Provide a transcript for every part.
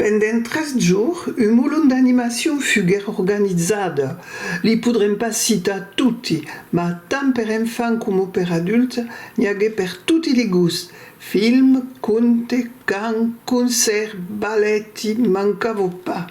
Pendent tres jours, un molon d'animacion fuguèt organizada. Li podrem pas citar toti, mas tant per enfants coma per adults n'i aguèt per toti li gusts, films, contes, cants, concèrts, ballet, i mancava pas.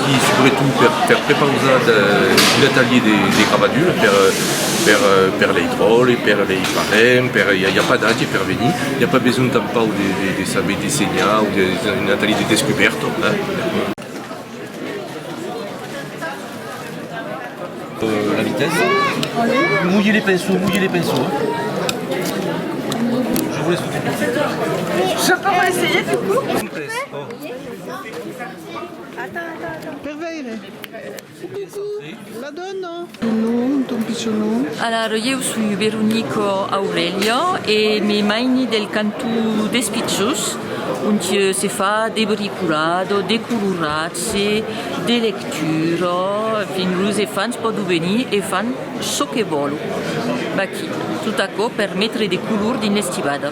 Aquí subretot per per prepausar de un atelier de de gravadura per per per lei tròlle per lei parents per i a pas d'age per venir i a pas besonh tanpau de de de saber dessenhar o de es un atelier de descubèrta la vitessa mulher de penso mulher de penso Per veire. Coucou, la dona. Ton nom, ton pichon nom? Alara, ieu soi Veronica Aurelia e me maini del canton d'Espitjós, onti se fa de bricolado, de coloratge, de lectura, en fin, los efants pòdon venir e fan çò que vòlon aquí, tot aquò per metre de color dins l'estivada.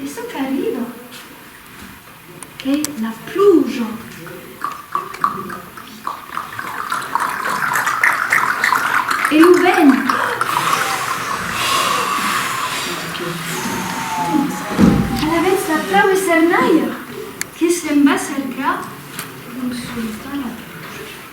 E çò qu'arriba, qu'ei la pluja. E lo vent. Alavetz la plau e cernaia que se'n va cercar lo sultan a Bruges.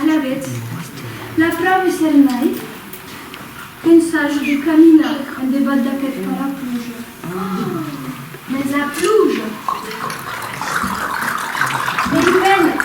Alavetz, la prau es hèr naiv d'ensajor de caminar en debat d'aqueth parapluja. Mès la pluja vei ben!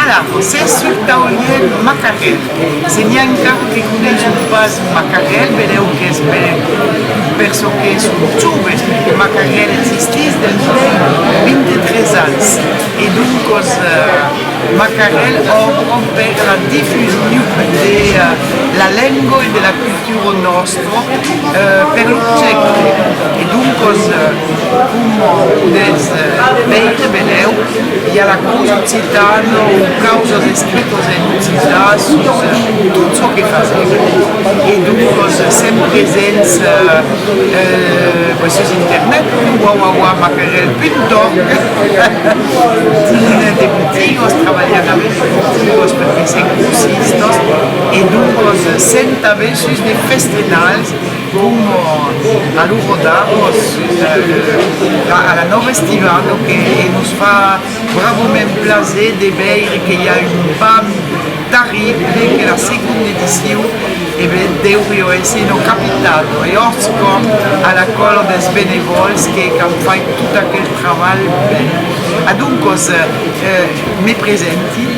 Ala, s'es sul tauliern Macarel. Se n'i a encara que coneisson pas Macarel, vedèu qu'es per çò que son joves. Macarel existís dens lei 23 ans e doncos Macarel òbro per la difusiun de la lengua e de la cultura nòsta. per lo projècte e doncas coma podètz veire benlèu i a la causa occitana o causas estrictament occitas sus tot çò que fasèm e doncas sèm presents sus internet www.macarel.org dins de botigas trabalhant avèth de botigas per fèisser grossistas e doncas sèm tanben Sus de festrenals coma a lo Rodaros, a la Nòva Estivado que nos fa bravoment plaser de veire que i a un bam tarrible que la segonda edicion e ben deurió èsser en occapitad e òrts com a la còla dels benevòls que qu'an fait tot aquel trabalh bèl. Adoncòs me presenti,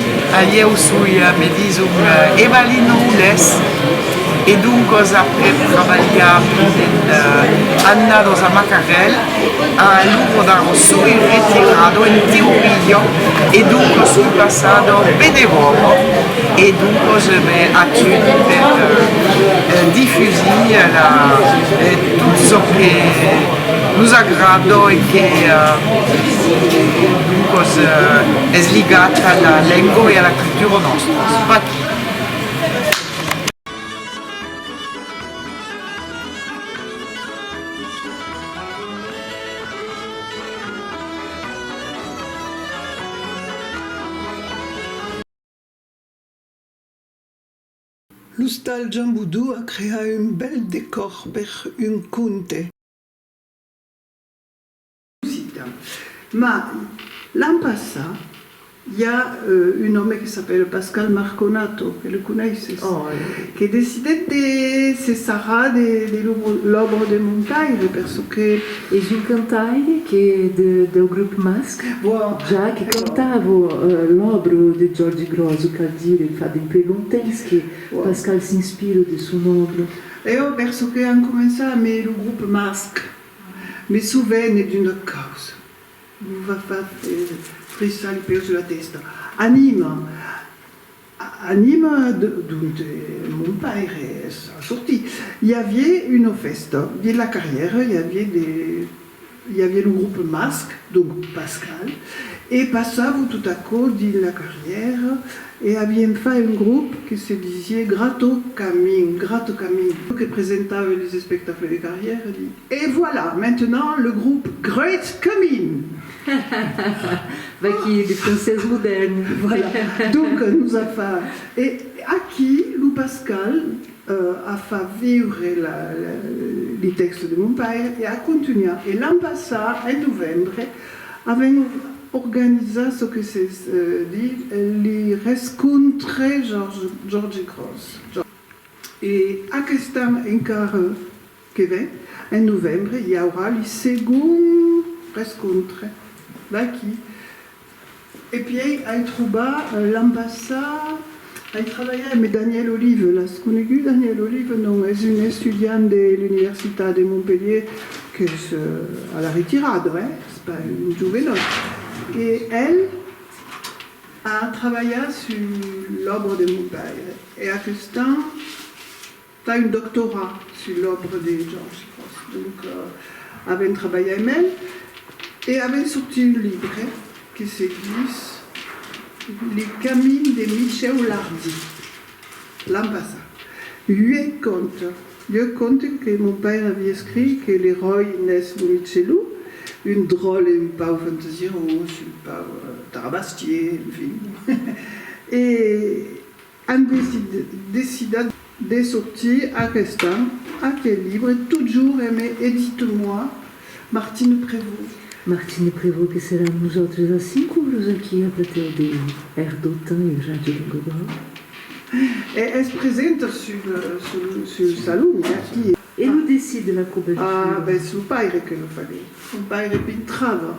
ieu soi, me dison, Evalina Oulés. E doncas après trabalhar pendent annados a Macarel, a lo Rodaro soi retirado en Tiurillo e doncas soi passado a Benevòro e doncas me atudi per difusir tot çò que nos agrada e que doncas es ligat a la lenga e a la cultura nòstras. L'ostal Jambudou a creat un bèl decòr per un conte. Musicta. Ma, l'an passat, i a un òme que s'apèla Pascal Marconato, que le coneisses, que decidèt de se sarrar de l'òbra de Montaire, per çò que. Es un cantaire que deu grup Masc, ja que cantava l'òbra de Giòrgi Grosu, cal dire, fa dempuèi longtemps que Pascal s'inspira de son òbra. Eo, per çò que an començat amé lo grup Masc. Me sovene d'una causa. Lo va far frissar li peus e la testa. Anima! Anima! Dont e mon paire es sortit? I avié una fèsta. Dins la carrièra i avié de. I avié lo grup Masc, donc Pascal, e passavo tot aquò dins la carrièra E aviem fai un grop que se disie Grato Camin, Grato Camin, que presentave los espectacles de carrièr e li. Et voilà, maintenant le groupe Great Camin! Ha ha ha! Vaquí de francés modèrn! Voilà, donc nos a fa. E aquí lo Pascal a fa viure li tèxte de mon paire e a contunhat. E l'an passat, en novembre, Avèm organizat çò que se diu li rescontre Jorge Gros e aqueste an encara que ven, en novembre, i aurà li segond rescontre d'aquí. E pièi ai trobat l'an passat, ai trabalhat eme Daniel Olive, l'as conegut Daniel Olive, non? Es un estudiant de l'universitat de Montpellier qu'es a la retirada, eh? Es pas un jovenòt. E el a trabalhat sus l'òbra de mon paire e aquestan, Fa un doctorat sus l'òbra de Georges Grosz. Donc, avèm trabalhat amb el e avèm sortit un libre que se ditz Le camin de Michèu Lardy, l'an passat. Uèch conte, uèch conte que mon paire avi escrit, que l'eròi n'es lo Michelou, un dròlle un pauc fantasirós, un pauc tarabastier, enfin. E. An decidat de sortir aqueste an aquel libre totjorn eme e ditz-moi, Martine Prevot. Martine Prevot que serà amb nosautres a cinc auras aquí a platèu de RDotan e Ràdio Languedoc. E es presenta sul salon aquí. E lo decidit de la cobertura? Ah, b'es lo paire que lo faguèt, un paire pintrava.